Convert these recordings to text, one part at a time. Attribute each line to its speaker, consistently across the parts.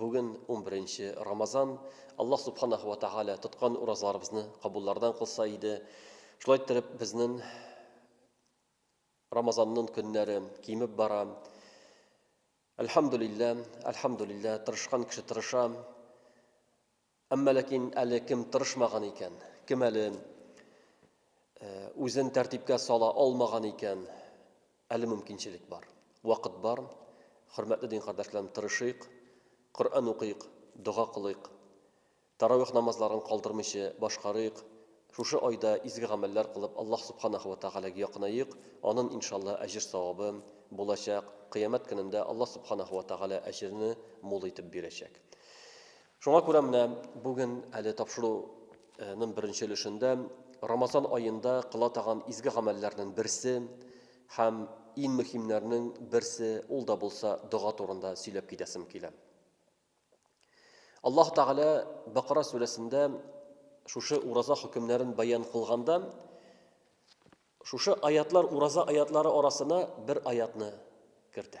Speaker 1: Бүген унберенче Рамазан, Аллаһ Субханаху ва Тааля тоткан уразаларыбызны кабуллардан кылса иде. Шулай иттереп, безнең Рамазанның көннәре кимеп бара. Әлхәмдулиллә, әлхәмдулиллә, тырышкан кеше тырыша. Әмма ләкин әле кем тырышмаган икән, кем әле үзен тәртипкә сала алмаган икән, әле мөмкинчелек бар. Вакыт бар. Хөрмәтле дин кардәшләрем, тырышыйк, Коръән укыйк, дога кылыйк, таравих намазларын калдырмыйча башкарыйк, шушы айда изге гамәлләр кылып Аллаһ Субханаһу ва Тәгаләгә якынаек, анын иншалла әҗер-савабы булачак, кыямәт көнендә Аллаһ Субханаһу ва Тәгалә әҗерне мул итеп бирәчәк. Шуңа күрә менә бүген әле тапшыру ның беренче өлешендә Рамазан аенда кыла таган изге гамәлләрнен берсе һәм ин мөхимнәрнең берсе ул да булса дога турында сөйләп китәсем килә. Аллаһ Тәгалә Бакара сүрәсендә шушы ураза хөкемнәрен бәян кылганда шушы аятлар ураза аятлары арасына бер аятны кертә.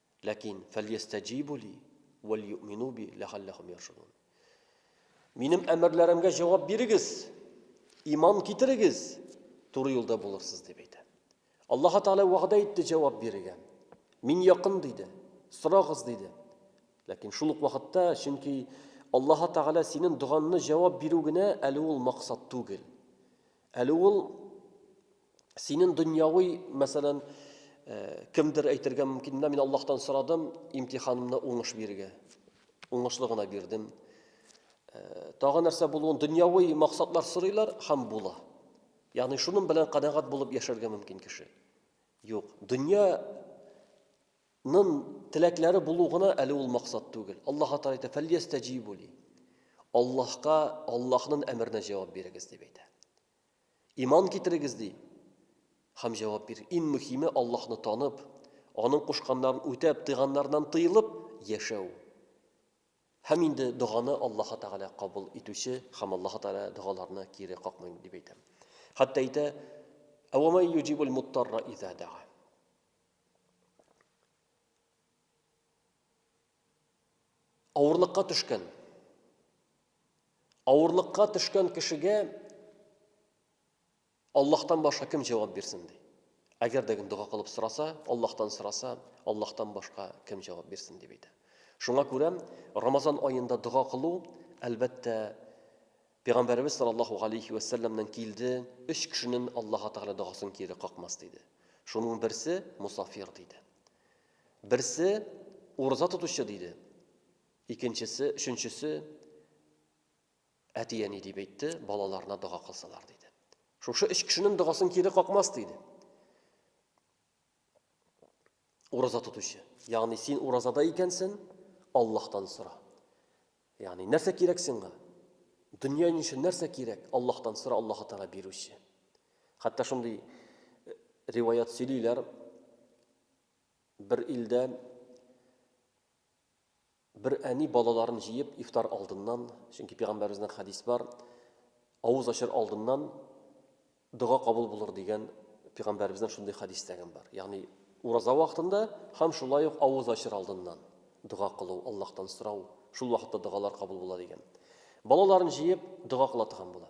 Speaker 1: Ләкин, фәльястәҗибу ли, вәльюъмину би, ләгалләһүм яршудун. Минем әмерләремгә җавап бирегез, иман китерегез, туры юлда булырсыз, дип әйтә. Аллаһ Тәгалә вәгъдә итте җавап бирергә. Мин якын диде, сорагыз диде. Ләкин шул ук вакытта, чөнки Аллаһ Тәгалә синең доганны җавап бирү генә әле ул максат түгел. Әле ул Синен дөньяви, мәсәлән, э, кемдер әйтергә мөмкин, менә мин Аллаһтан сорадым, имтиханымны уңыш бирергә. Уңышлы гына бирдем. Э, тагы нәрсә булуын дөньяви максатлар сорыйлар һәм була. Ягъни шуның белән канәгать булып яшәргә мөмкин кеше. Юк, дөнья нын теләкләре булу гына әле ул максат түгел. Аллаһ Тәгалә әйтә: "Фәлиястәҗибу ли". Аллаһка, Аллаһның әмеренә җавап бирегез дип әйтә. Иман китерегез, ди. Һәм җавап бир. Иң мөһиме, Аллаһны танып, Аның кушканнарын үтәп, тыйганнарыннан тыелып яшәү. Һәм инде доганы Аллаһы Тәгалә кабул итүче һәм Аллаһы Тәгалә догаларны кире какмый дип әйтә. Хәтта әйтә, Әвәмәй юҗибул муттарра иза дага. Авырлыкка төшкән. Авырлыкка төшкән кешегә Аллаһтан башка кем җавап бирсен ди. Әгәр дә дога кылып сораса, Аллаһтан сораса, Аллаһтан башка кем җавап бирсен дип әйтә. Шуңа күрә Рамазан аенда дога кылу, әлбәттә, Пәйгамбәребез саллаллаһу алейхи ва саллямнан килде, өч кешенең Аллаһ Тәгалә догасын кире какмас диде. Шуның берсе мусафир диде. Берсе, ураза тотучы, диде. Икенчесе, өченчесе, әти-әни дип әйтте, балаларына дога кылсалар, диде. Шушы өч кешенең догасын кире какмас, диде. Ураза тотучы. Ягъни син уразада икәнсең, Аллаһтан сора. Ягъни нәрсә кирәк сиңа? Дөнья ничә нәрсә кирәк? Аллаһтан сора, Аллаһ Тәгалә бирүче. Хәтта шундый э, риваят сөйлиләр, Бер илдә бер әни балаларын җыеп ифтар алдыннан, чөнки пәйгамбәребезнең хадис бар, авыз ачыр алдыннан дога кабул булыр дигән пәйгамбәребезнең шундый хадис тәгән бар. Ягъни ураза вакытында һәм шулай ук авыз ачыр алдыннан дога кылу, Аллаһтан сорау, шул вакытта догалар кабул була дигән. Балаларын җыеп дога кыла торган була.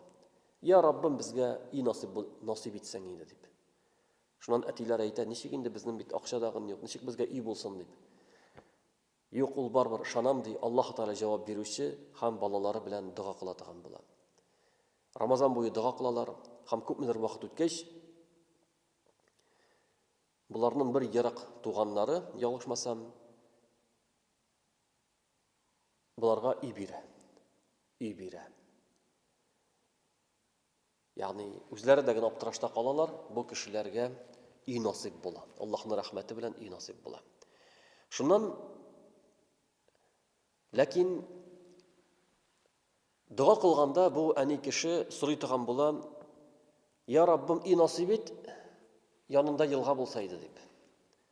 Speaker 1: Я Раббым, безгә и насыйп насыйп итсәң инде дип. Шуннан әтиләр әйтә, ничек инде безнең бит акча да гын юк, ничек безгә өй булсын дип. Юк, ул барыбер ышанам, ди, Аллаһу Тәгалә җавап бирүче һәм балалары белән дога кыла торган була. Рамазан буе дога кылалар һәм күпмедер вакыт үткәч, боларның бер ерак туганнары, ялгышмасам, боларга өй бирә. Өй бирә. Ягъни үзләре дә генә аптырашта калалар, бу кешеләргә өй насыйп була. Аллаһның рәхмәте белән өй насыйп була. Шуннан ләкин дога кылганда бу әни кеше сорый торган була, "Я Раббым, өй насыйп ит, янында елга булса иде" дип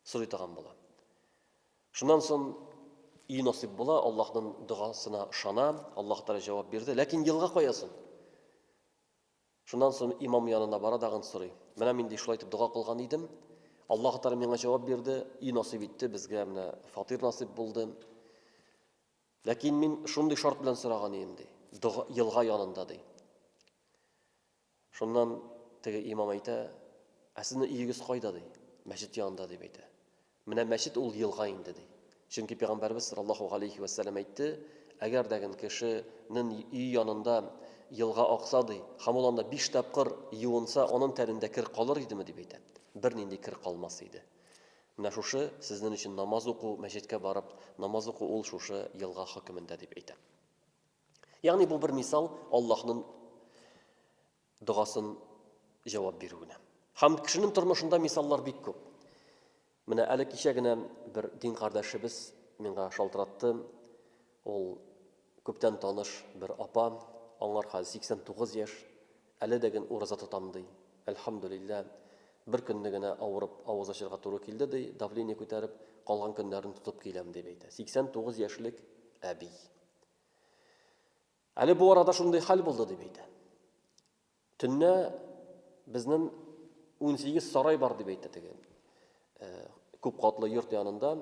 Speaker 1: сорый торган була. Шуннан сон ию насыйп була, Аллаһның догасына ышана, Аллаһ Тәгалә җавап бирде, ләкин елга кая сон? Шуннан сон имам янына бара дагын сорый. Менә мин ди шулай итеп дога кылган идем, Аллаһ Тәгалә миңа җавап бирде, ию насыйп итте, безгә менә фатир насыйп булды. Ләкин мин шундый шарт белән сораган идем ди, елга янында ди. Шуннан теге имам әйтә, Ә сезнең өегез кайда? ди. Мәчет янында, дип әйтә. Менә мәчет ул елга инде, ди. Чөнки Пәйгамбәребез саллаллаһу галәйһи вә сәлләм әйтте, Әгәр дә гел кеше нен өе янында елга акса, ди, һәм ул анда биш тапкыр юынса, анын тәнендә кер калыр идеме, дип әйтә. Бернинди кер калмас иде. Менә шушы сезнен өчен намаз уку, мәчеткә барып намаз уку ул шушы елга хөкемендә, дип әйтә. Ягъни бу бер мисал Аллаһның догасын җавап бирүенә. Һәм кешенең тормышында мисаллар бик күп. Менә әле кичә генә бер дин кардәшебез миңа шалтыратты. Ул күптән таныш бер апа, аңар хәзер 89 яшь, әле дә ген ураза тотам ди. Әлхәмдүлиллә, бер көнне генә авырып авыз ачырга туры килде ди, давление күтәреп, калган көннәрен тотып киләм дип әйтә. 89 яшьлек әби. Әле бу арада шундый хәл булды дип әйтә. Төнне безнең 18 сарай бар дип әйтә теге. Э, күп катлы йорт янында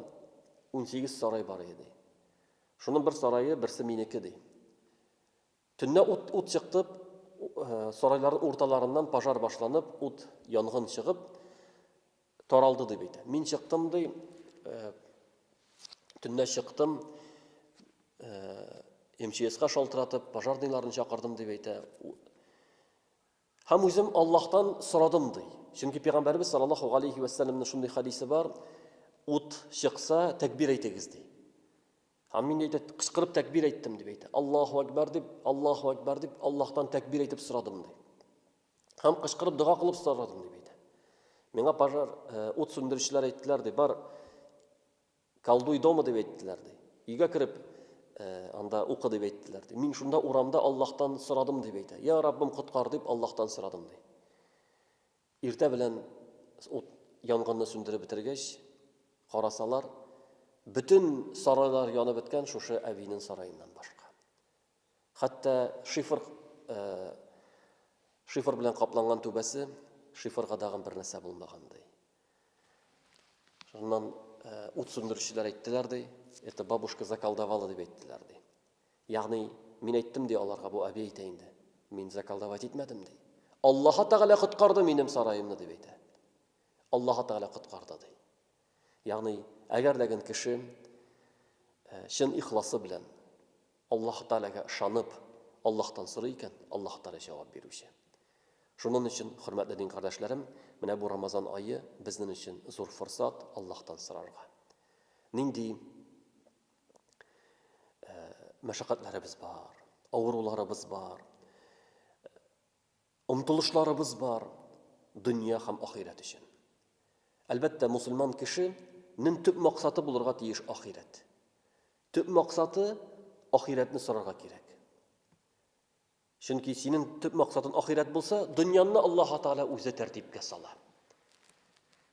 Speaker 1: 18 сарай бар иде. Шуның бер сарае берсе минеке ди. Төнне ут ут чыктып, э, сарайлар урталарыннан пожар башланып, ут янгын чыгып, Таралды дип әйтә. Мин чыктым, ди, төнлә чыктым, МЧСка шалтыратып, пожарныйларны чакырдым дип әйтә. Һәм үзем Аллаһтан сорадым, ди. Чөнки пәйгамбәрбез саллаллаһу алейхи ва саллямның шундый хадисе бар, ут чыкса, тәкбир әйтегез, ди. Һәм мин әйтә, кычкырып тәкбир әйттем дип әйтә. Аллаһу акбар дип, Аллаһу акбар дип, Аллаһтан тәкбир әйтеп сорадым, ди. һәм кычкырып дога кылып сорадым дип әйтә. Миңа пожар э, ут сүндерүчеләр әйттеләр ди, бар колдуй дома дип әйттеләр ди. Өйгә кереп э, анда укы дип әйттеләр ди. Мин шунда урамда Аллаһтан сорадым дип әйтә. Я Раббым коткар дип Аллаһтан сорадым ди. Иртә белән ут янгынны сүндереп бетергәч, карасалар, бөтен сарайлар янып беткән шушы әбинең сараеннан башка. Хәтта шифр шифр белән капланган түбәсе шифрга дагын бер нәрсә булмагандай. Шуннан ут сүндерүчеләр әйттеләр ди, это бабушка заколдовала дип әйттеләр ди. Ягъни мин әйттем ди аларга, бу әби әйтә инде. Мин заколдовать итмәдем ди. Аллаһы Тәгалә коткарды минем сараемны дип әйтә. Аллаһы Тәгалә коткарды ди. Ягъни, әгәр дә гел кеше э, чын ихласы белән Аллаһ Тәгаләгә ышанып, Аллаһтан сорый икән, Аллаһ Тәгалә җавап бирүче. Шуның өчен, хөрмәтле дин кардәшләрем, менә бу Рамазан айы безнең өчен зур форсат Аллаһтан сорарга. Нинди э, мәшәкатьләребез бар, авыруларыбыз бар. Омтылышларыбыз бар дөнья һәм ахирәт өчен. Әлбәттә, мусульман кеше нең төп максаты булырга тиеш ахирәт. Төп максаты ахирәтне сорарга кирәк. Чөнки синең төп максатын ахирәт булса, дөньянны Аллаһ Тәгалә үзе тәртипкә сала.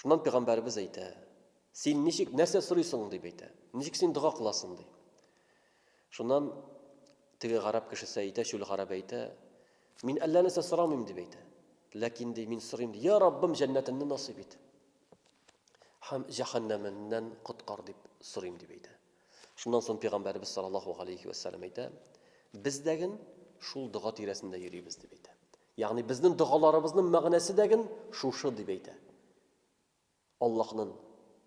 Speaker 1: Шуннан пәйгамбәребез әйтә, Син ничек, нәрсә сорыйсың? дип әйтә. Ничек син дога кыласың? ди. Шуннан теге гарәп кешесе әйтә, чүл гарәбе әйтә, Мин әллә нәрсә сорамыйм, дип әйтә. Ләкин ди, мин сорыйм, ди, Я Раббым, җәннәтеңне насыйп ит. Һәм җәһәннәменнән коткар дип сорыйм, дип әйтә. Шуннан соң пәйгамбәребез саллаллаһу алейхи вәссәлам әйтә, Без дәген шул дога тирәсендә йөрибез, дип әйтә. Ягъни безнең догаларыбызның мәгънәсе дәген шушы дип әйтә. Аллаһның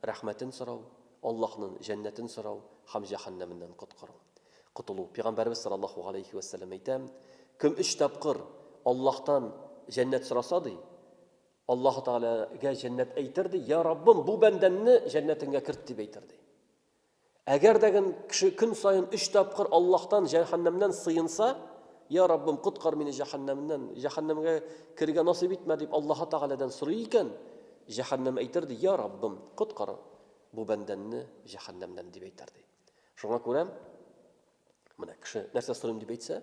Speaker 1: рәхмәтен сорау, Аллаһның җәннәтен сорау һәм җәһәннәменнән коткару. Котылу. Пәйгамбәрбез саллаллаһу галәйһи вә сәлләм әйтә, кем өч тапкыр Аллаһтан җәннәт сораса ди, Аллаһу Тәгаләгә җәннәт әйтер ди, я Раббым, бу бәндәмне җәннәтеңә керт дип әйтер ди. Әгәр дә гән кеше көн саен өч тапкыр Аллаһтан җәһәннәмнән сыенса, Я Раббым, коткар мине җәһәннәмнән, җәһәннәмгә керергә насыйп итмә, дип Аллаһы Тәгаләдән сорый икән, җәһәннәм әйтер, ди, Я Раббым, коткар бу бәндәнне җәһәннәмнән, дип әйтер, ди. Шуңа күрә, менә кеше нәрсә сорыйм дип әйтсә,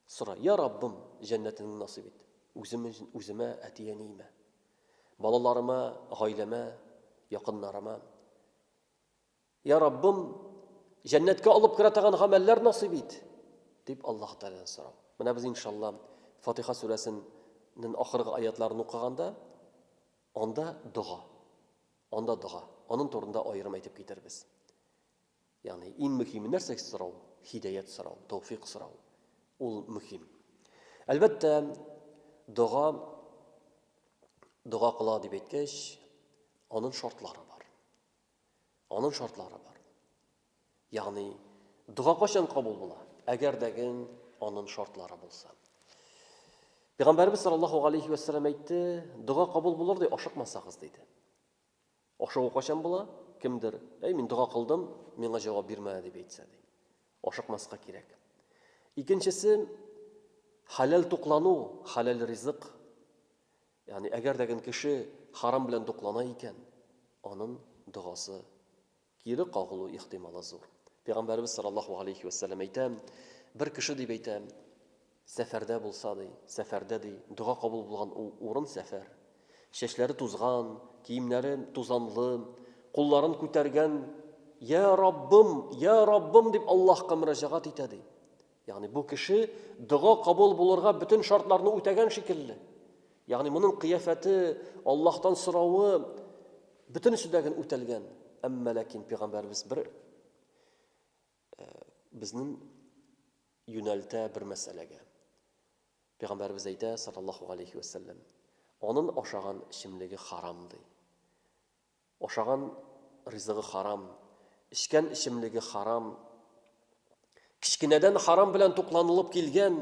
Speaker 1: Сора, Йа Раббым, җәннәтеңне насыйп ит. Үзем өчен, үземә, әти-әниемә. Балаларыма, гаиләмә, якыннарыма. Йа Раббым, җәннәткә алып керә торган гамәлләр насыйп ит, дип Аллаһ Тәгаләдән сорау. Менә без иншалла Фатиха сүрәсеннән ахыргы аятларын укыганда анда дога. Анда дога. Анын турында аерым әйтеп китербез. Ягъни иң мөһиме нәрсә сорау? Һидәят сорау, тәүфыйк сорау. Ул мөһим. Әлбәттә, дога дога кыла дип әйткәч, аның шартлары бар. Аның шартлары бар. Ягъни дога кайчан кабул була? Әгәр дәген аның шартлары булса. Пәйгамбәрбез саллаллаһу алейхи ва саллям әйтте, дога кабул булыр ди, ашыкмасагыз диде. Ашыгу кайчан була? Кемдер, Әй, мин дога кылдым, миңа җавап бирмә, дип әйтсә, ди. Ашыкмаска кирәк. Икенчесе, хәләл туклану, хәләл ризык. Ягъни, әгәр дә кеше харам белән туклана икән, аның догасы Кире кагылу ихтималы зур. Пәйгамбәребез саллаллаһу галәйһи вә сәлләм әйтә, Бер кеше, дип әйтә, сәфәрдә булса, ди, сәфәрдә, ди, дога кабул булган урын сәфәр. Чәчләре тузган, киемнәре тузанлы, кулларын күтәргән, Йә Раббым, йә Раббым, дип Аллаһка мөрәҗәгать итә, ди. Ягъни бу кеше дога кабул булырга бөтен шартларны үтәгән шикелле. Ягъни моның кыяфәте, Аллаһтан соравы бөтен сүдәген үтәлгән. Әмма ләкин пәйгамбәрбез бер э, безнең юнәлтә бер мәсьәләгә. Пәйгамбәрбез әйтә, саллаллаһу алейхи ва саллям, аның ашаган эчемлеге харам ди. Ашаган ризыгы харам, эчкән эчемлеге харам, кечкенәдән харам белән тукланылып килгән,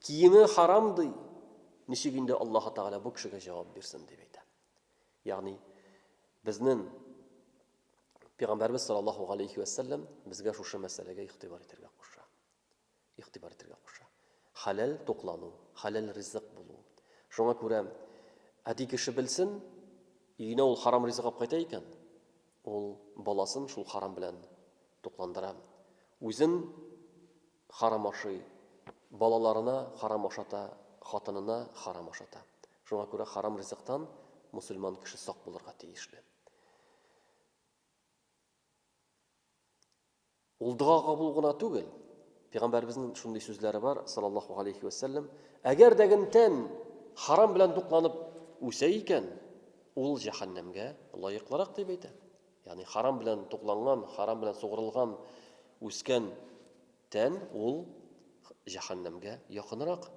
Speaker 1: киеме харам ди. Ничек инде Аллаһы Тәгалә бу кешегә җавап бирсен дип әйтә. Ягъни безнең Пәйгамбәрбез саллаллаһу алейхи ва саллям безгә шушы мәсьәләгә игътибар итәргә куша. игътибар итәргә куша. Хәләл туклану, хәләл ризык булу. Шуңа күрә әти кеше белсен, өенә ул харам ризык алып кайта икән, ул баласын шул харам белән тукландыра. Үзен харам ашый, балаларына харам ашата, хатынына харам ашата. Шуңа күрә харам ризыктан мөселман кеше сак булырга тиешле. Ул дога кабул гына түгел. Пигамбәребезнең шундый сүзләре бар, салаллаху галәйһи вә сәлләм, Әгәр дә гнтән харам белән дукланып үсә икән, ул җәһәннәмгә лаеклырак дип әйтә. Ягъни харам белән тукланган, харам белән сугырылган, үскән тән ул җәһәннәмгә якынрак.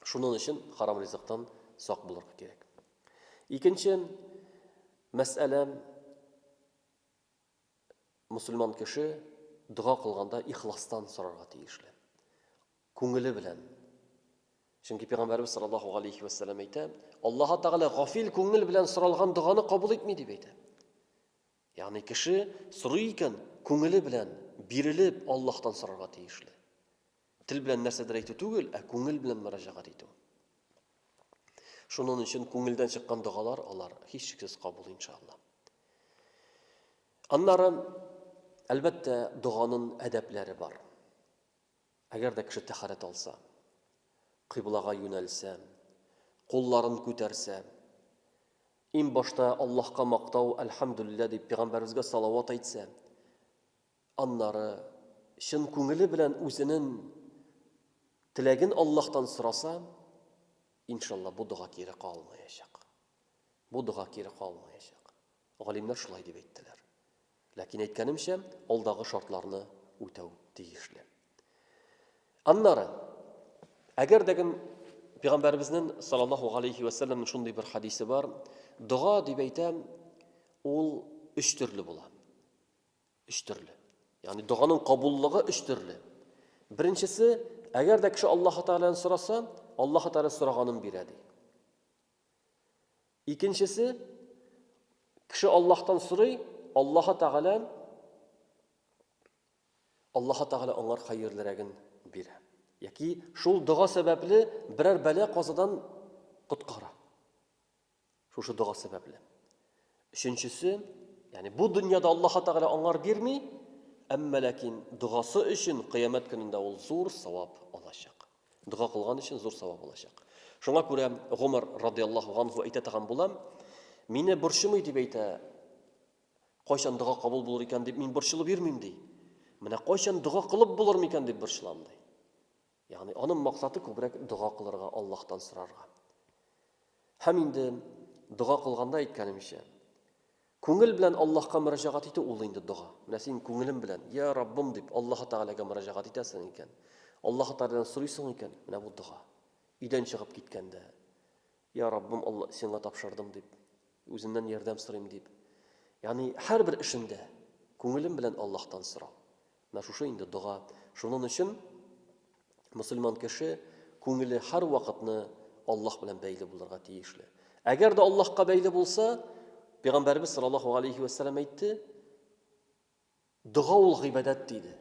Speaker 1: Шуның өчен харам ризыктан сак булырга кирәк. Икенче мәсьәлә Мөселман кеше дога кылганда ихластан сорарга тиешле. Күңеле белән. Чөнки Пәйгамбәрбез саллаллаһу алейхи ва сәлләм әйтә, Аллаһ Тәгалә гафил күңел белән соралган доганы кабул итми дип әйтә. Ягъни кеше сорый икән, күңеле белән бирелеп Аллаһтан сорарга тиешле. Тел белән нәрсәдер әйтү түгел, ә күңел белән мөрәҗәгать итү. Шунын өчен күңелдән чыккан догалар алар һичшиксез кабул иншалла. Аннары әлбәттә доганын әдәпләре бар. Әгәр дә кеше тәхәрәт алса, кыйблага юнәлсә, кулларын күтәрсә, ин башта Аллаһка мактау, әлхәмдүлиллә дип пәйгамбәребезгә салават әйтсә, Аннары, чын күңеле белән үзенен теләген Аллаһтан сораса, иншалла, бу дога кире калмаячак. Бу дога кире калмаячак. Галимнәр шулай дип әйттеләр. Ләкин әйткәнемчә, алдагы шартларны үтәү тиешле. Аннары, әгәр дә кем Пәйгамбәребезнең саллаллаху алейхи ва саллям шундый бер хадисе бар, дога дип әйтәм, ул өч төрле була. Өч төрле. Ягъни доганың кабуллыгы өч төрле. Беренчесе, әгәр дә кеше Аллаһ Тәгаләдән сораса, Аллаһ Тәгалә сораганын бирә ди. Икенчесе, кеше Аллаһтан сорый, Аллаһ Тәгалә Аллаһ Тәгалә аңар хәерлерәген бирә. Яки шул дога сәбәпле берәр бәлә казадан коткара. Шушы дога сәбәпле. Өченчесе, ягъни бу дөньяда Аллаһ Тәгалә аңар бирми, әмма ләкин догасы өчен кыямәт көнендә ул зур савап алачак. Дога кылган өчен зур савап алачак. Шуңа күрә Гомар радиаллаһу анһу әйтә торган булам, мине борчымый дип әйтә, кайчан дога кабул булыр икән дип мин борчылып йөрмим ди. Менә кайчан дога кылып булыр микән дип борчылам ди. Ягъни аның максаты күбрәк дога кылырга, Аллаһтан сорарга. Һәм инде дога кылганда әйткәнемчә, күңел белән Аллаһка мөрәҗәгать итү ул инде дога. Менә син күңелең белән, я Раббым дип, Аллаһы Тәгаләгә мөрәҗәгать итәсең икән, Аллаһы Тәгаләдән сорыйсың икән, менә бу дога. Өйдән чыгып киткәндә, я Раббым, сиңа тапшырдым дип, үзеннән ярдәм сорыйм дип. Ягъни һәрбер эшендә күңелем белән Аллаһтан сорау. Менә шушы инде дога. Шунын өчен мөселман кеше күңеле һәрвакытны Аллаһ белән бәйле булырга тиешле. Әгәр дә Аллаһка бәйле булса, Пәйгамбәрбез саллаллаһу алейхи ва сәлләм әйтте, дога ул гыйбадәт диде.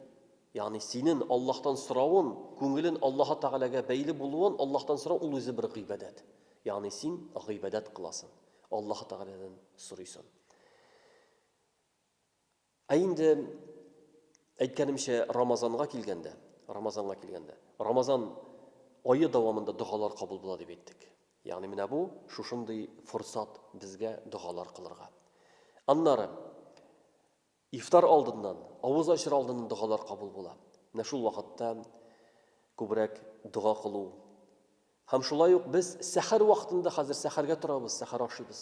Speaker 1: Ягъни синен Аллаһтан соравын, күңелен Аллаһ Тәгаләгә бәйле булуын Аллаһтан сорау ул үзе бер гыйбадәт. Ягъни син гыйбадәт кыласың, Аллаһ Тәгаләдән сорыйсың. Ә инде әйткәнемчә, Рамазанга килгәндә, Рамазанга килгәндә, Рамазан ае дәвамында догалар кабул була дип әйттек. Ягъни менә бу шушындый форсат безгә догалар кылырга. Аннары ифтар алдыннан, авыз ачыр алдыннан догалар кабул була. Менә шул вакытта күбрәк дога кылу Һәм шулай ук без сәхәр вакытында хәзер сәхәргә торабыз, сәхәр ашыйбыз.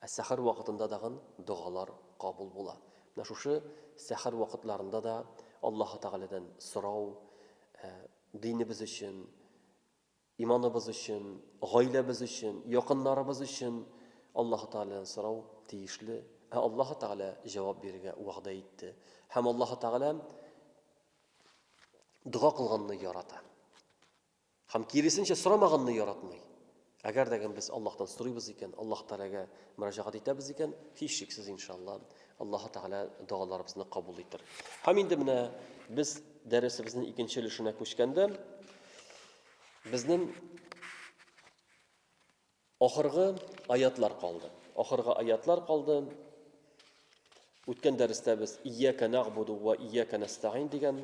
Speaker 1: Ә сәхәр вакытында дагын догалар кабул була. Менә шушы сәхәр вакытларында да Аллаһы Тәгаләдән сорау, ә, динебез өчен, иманыбыз өчен, гаиләбез өчен, якыннарыбыз өчен Аллаһы Тәгаләдән сорау тиешле. Ә Аллаһы Тәгалә җавап бирергә вәгъдә итте. Һәм Аллаһы Тәгалә дога кылганны ярата. Һәм киресенчә сорамаганны яратмый. Әгәр дә без Аллаһтан сорыйбыз икән, Аллаһ Тәгаләгә мөрәҗәгать итәбез икән, һичшиксез иншалла, Аллаһ Тәгалә догаларыбызны кабул итер. Һәм инде менә без дәресебезнең икенче өлешенә күчкәндә, безнең ахыргы аятлар калды. Ахыргы аятлар калды. Үткән дәрестә без ияка нагъбуду ва ияка нәстәгин дигән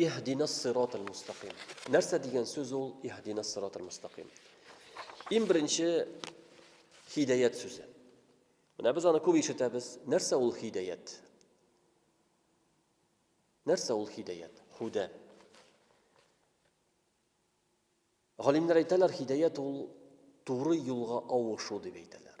Speaker 1: Иһдина сират аль-мустаким. Нәрсә дигән сүз ул иһдина сират аль-мустаким? Иң беренче хидәят сүзе. Менә без аны күп ишетәбез. Нәрсә ул хидәят? Нәрсә ул хидәят? Худә. Галимнәр әйтәләр, хидәят ул туры юлга авышу дип әйтәләр.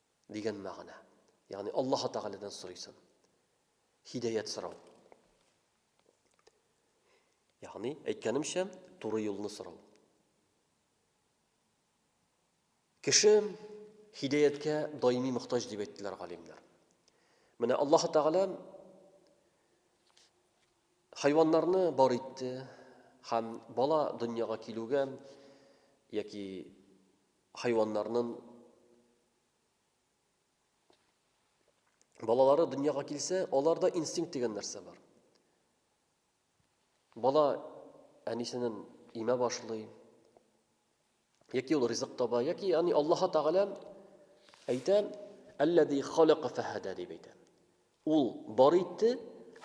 Speaker 1: дигән мәгънә. Ягъни Аллаһы Тәгаләдән сорыйсың. Хидәят сорау. Ягъни, әйткәнемчә, туры юлны сорау. Кеше хидәяткә даими мохтаҗ дип әйттеләр галимнәр. Менә Аллаһ Тәгалә хайваннарны бар итте һәм бала дөньяга килүгә яки Хайваннарнын балалары дөньяга килсә, аларда инстинкт дигән нәрсә бар. Бала әнисенен имә башлый, яки ул ризык таба, яки яни Аллаһ Тәгалә әйтә, "Әлләзи халака фахада" дип әйтә. Ул бар итте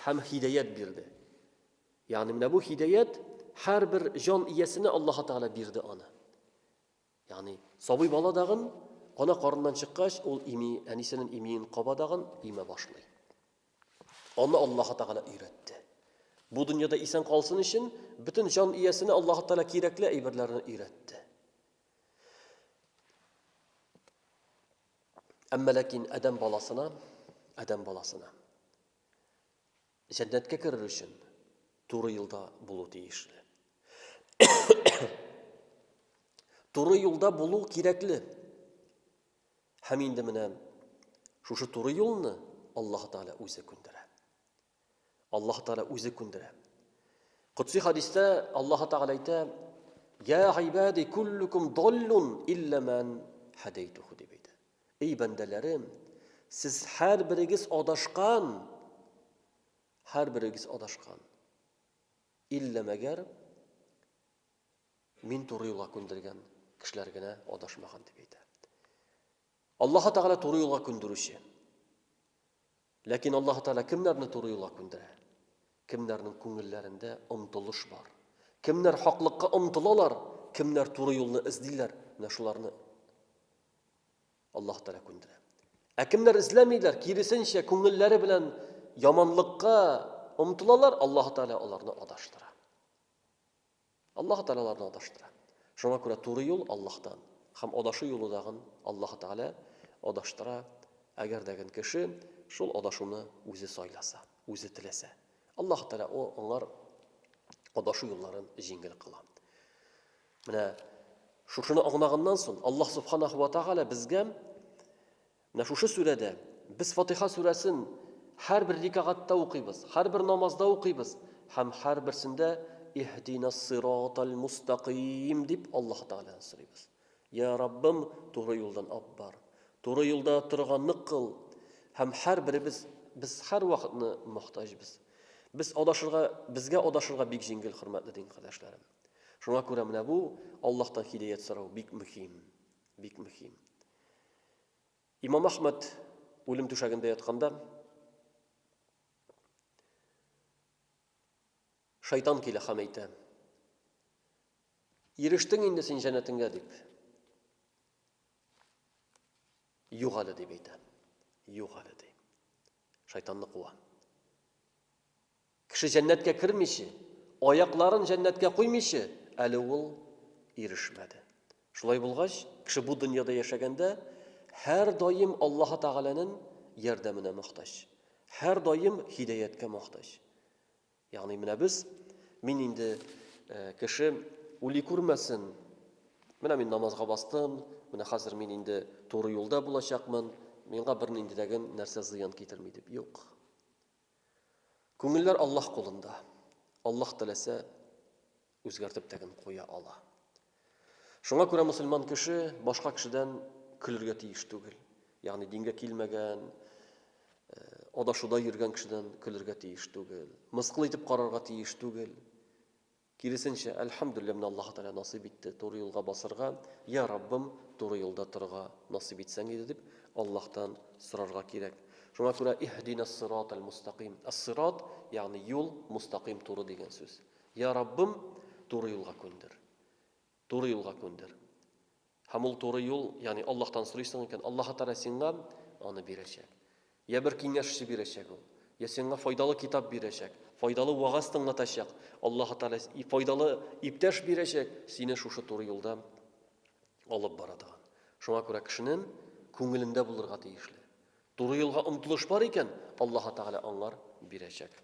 Speaker 1: һәм хидәят бирде. Ягъни менә бу хидәят һәрбер җан иясенә Аллаһ Тәгалә бирде аны. Ягъни, сабый бала дагын ана карыннан чыккач, ул ими, әнисенен имиен каба дагын имә башлый. Аны Аллаһ Тәгалә өйрәтте. Бу дөньяда исән калсын өчен бөтен җан иясенә Аллаһ Тәгалә кирәкле әйберләрне өйрәтте. Әмма ләкин адәм баласына, адәм баласына Җәннәткә керер өчен туры юлда булу тиешле. Туры юлда булу кирәкле. Һәм инде менә шушы туры юлны Аллаһ Тәгалә үзе күндерә. Аллаһ Тәгалә үзе күндерә. Кутси хадистә Аллаһ Тәгалә әйтә: "Я гыйбади куллукум доллун илламан хадайтуху" дип әйтә. Эй бәндәләрем, сез һәрберегез адашкан, һәрберегез адашкан. Иллә мәгәр мин туры юлга күндергән кешеләр генә адашмаган дип әйтә. Аллаһ Тәгалә туры юлга күндерүче. Ләкин Аллаһ Тәгалә кемнәрне туры юлга күндерә? Кемнәрнең күңелләрендә омтылыш бар? Кемнәр хаклыкка омтылалар, кемнәр туры юлны эзлиләр, менә шуларны Аллаһ Тәгалә күндерә. Ә кемнәр эзләмиләр, киресенчә, күңелләре белән яманлыкка омтылалар, Аллаһ Тәгалә аларны адаштыра. Аллаһ Тәгалә аларны адаштыра. Шуңа күрә туры юл Аллаһтан һәм адашу юлы дагын Аллаһ Тәгалә адаштыра, әгәр дә гел кеше шул адашуны үзе сайласа, үзе теләсә. Аллаһ Тәгалә о аңар адашу юлларын җиңел кыла. Менә шушыны аңлаганнан соң Аллаһ Субханаху ва Тааля безгә менә шушы сүрәдә без Фатиха сүрәсен һәрбер рикагатта укыйбыз, һәрбер намазда укыйбыз һәм һәрберсендә Иһдинас сиратал мустаким дип Аллаһ Таалядан сорыйбыз. Я Раббым, туры юлдан ап бар. Туры юлда торганны кыл. Һәм һәрберебез без һәрвакытны мохтаҗбыз. Без адашырга, безгә адашырга бик җиңел, хөрмәтле дин кардәшләрем. Шуңа күрә менә бу Аллаһтан һидаят сорау бик мөһим. Бик мөһим. Имам Ахмад үлем түшәгендә ятканда шайтан килә һәм әйтә: "Ирештең инде син җәннәтеңгә" дип. Юк әле дип әйтә. Юк әле ди. Шайтанны куа. Кеше җәннәткә кермиче, аякларын җәннәткә куймыйчы, әле ул ирешмәде. Шулай булгач, кеше бу дөньяда яшәгәндә, һәрдаим Аллаһы Тәгаләнен ярдәменә мохтаҗ. Һәрдаим һидәяткә мохтаҗ. Ягъни менә без, мин инде кеше ули күрмәсен, менә мин намазга бастым, менә хәзер мин инде туры юлда булачакмын, миңа бернинди дә гем нәрсә зыян китерми дип. Юк. Күңелләр Аллаһ кулында. Аллаһ теләсә, үзгәртеп тә генә куя ала. Шуңа күрә мөселман кеше башка кешедән көлергә тиеш түгел. Ягъни дингә килмәгән, адашуда йөргән кешедән көлергә тиеш түгел. Мыскыл итеп карарга тиеш түгел. Киресенчә, әлхәмдүллә, менә Аллаһы Тәгалә насыйп итте туры юлга басырга, йа Раббым, туры юлда торырга насыйп итсәң иде, дип Аллаһтан сорарга кирәк. Шуңа күрә иһдинәс-сиратәл-мустәкыйм, әс-сират, ягъни юл, мустәкыйм, туры дигән сүз. Йа Раббым, туры юлга күндер. Туры юлга күндер. Һәм ул туры юл, ягъни Аллаһтан сорыйсың икән, Аллаһы Тәгалә сиңа аны бирәчәк. Йә бер киңәшче бирәчәк ул, йә сиңа файдалы китап бирәчәк, файдалы вәгазь тыңлатачак, Аллаһы Тәгалә и файдалы иптәш бирәчәк, сине шушы туры юлда алып бара торган. Шуңа күрә кешенең күңелендә булырга тиешле. Туры юлга омтылыш бар икән, Аллаһы Тәгалә аңар бирәчәк.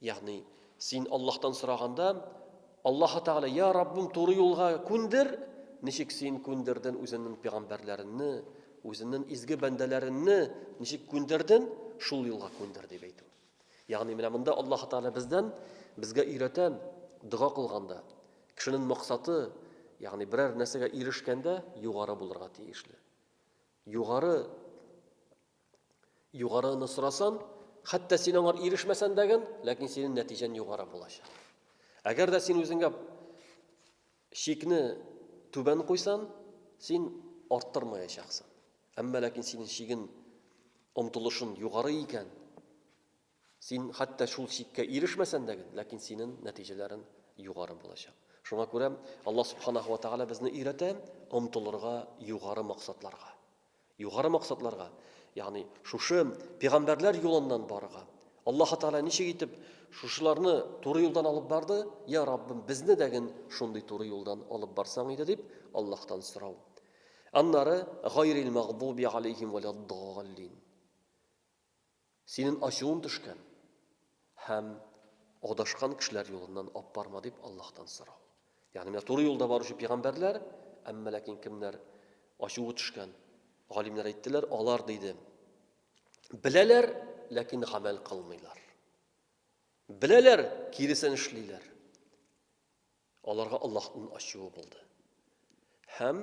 Speaker 1: Ягъни, син Аллаһтан сораганда, Аллаһы Тәгалә, Я Раббым, туры юлга күндер, ничек син күндерден үзеңнең пигамбәрләреңне, үзеңнең изге бәндәләреңне ничек күндерден, шул юлга күндер дип әйтү. Ягъни, менә монда Аллаһы Тәгалә бездән безгә өйрәтә, дога кылганда, кешенең максаты, ягъни берәр нәрсәгә ирешкәндә, югары булырга тиешле. Югары Югарыны сорасын, хәтта син аңар ирешмәсән дә гын, ләкин синең нәтиҗән югары булачак. Әгәр дә син үзеңә шикне түбән куйсан, син арттырмаячаксың. Әмма ләкин синең шигең омтылышын югары икән, Син хәтта шул чиккә ирешмәсән дә гел, ләкин синен нәтиҗәләрен югары булачак. Шуңа күрә Аллаһ Субханаһу ва Тәгалә безне өйрәтә омтылырга югары максатларга. Югары максатларга, ягъни шушы пигамбәрләр юлыннан барырга. Аллаһы Тәгалә ничек итеп шушыларны туры юлдан алып барды? Я Раббым, безне дә ген шундый туры юлдан алып барсаң иде дип Аллаһтан сорау. Аннары гайрил мәгъдуби алейһим вәләд-даллин. Синен ачуын төшкән һәм адашкан кешеләр юлыннан аппарма дип Аллаһтан сорау. Ягъни менә туры юлда баручы пигамбәрләр, әмма ләкин кемнәр ачуы төшкән, галимнәр әйттеләр, алар диде. Беләләр, ләкин гамәл кылмыйлар. Беләләр, киресен эшлиләр. Аларга Аллаһның ачуы булды. Һәм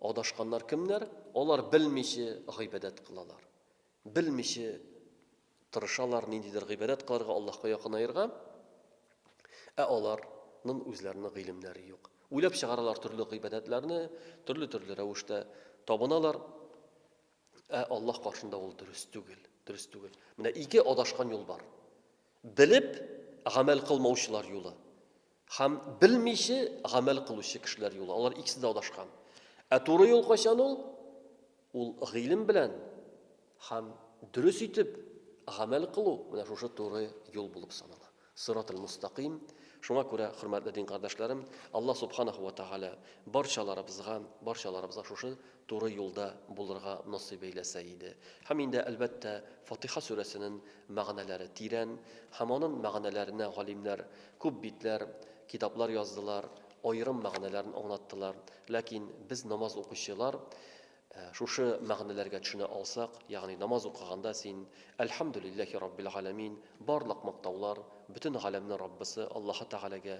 Speaker 1: адашканнар кемнәр? Алар белмичә гыйбадәт кылалар. Белмичә тырышалар ниндидер гыйбадәт кыларга, Аллаһка якынаерга. Ә аларның үзләренең гыйлемнәре юк. Уйлап чыгаралар төрле гыйбадәтләрне, төрле-төрле рәвештә табыналар. Ә Аллаһ каршында ул дөрес түгел, дөрес түгел. Менә ике адашкан юл бар. Белеп гамәл кылмаучылар юлы һәм белмиче гамәл кылучы кешеләр юлы, алар икесе дә адашкан. Ә туры юл кайчан ул? Ул гыйлем белән һәм дөрес итеп гамәл кылу, менә шушы туры юл булып санала. Сыратул мустакыйм. Шуңа күрә, хөрмәтле дин кардәшләрем, Аллаһ субханаху ва тагәлә барчаларыбызга, барчаларыбызга шушы туры юлда булырга насыйп әйләсә иде. Һәм инде, әлбәттә, Фатыйха сүрәсенен мәгънәләре тирән, һәм анын мәгънәләренә галимнәр күп битләр, китаплар яздылар, аерым мәгънәләрен аңлаттылар. Ләкин без намаз укучылар шушы мәгънәләргә төшенә алсак, ягъни намаз укыганда син Әлхәмдүлилләһи раббил галәмин, барлык мактаулар, бөтен галәмнең Раббысы Аллаһы Тәгаләгә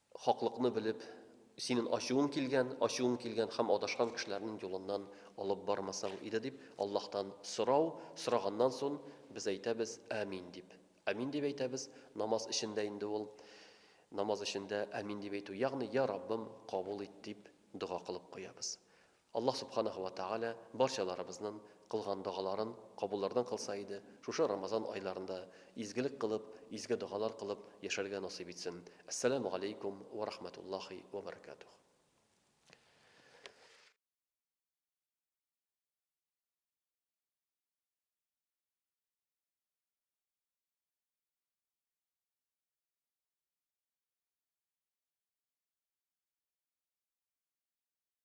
Speaker 1: Хаклыкны белеп, синен ачуың килгән, ачуың килгән һәм адашкан кешеләрнен юлыннан алып бармасаң иде дип Аллаһтан сорау, сораганнан сон без әйтәбез, Амин дип. Амин дип әйтәбез, намаз эчендә инде ул, намаз эчендә Амин дип әйтү, ягъни, Я Раббым, кабул ит дип дога кылып куябыз. Аллаһ Субханаһу ва Тәгалә барчаларыбызнын кылган догаларын кабуллардан кылса иде, шушы Рамазан айларында изгелек кылып, изге догалар кылып яшәргә насыйп итсен. Әссәләмү галәйкүм вә рахмәтуллаһи вә бәрәкәтүһ.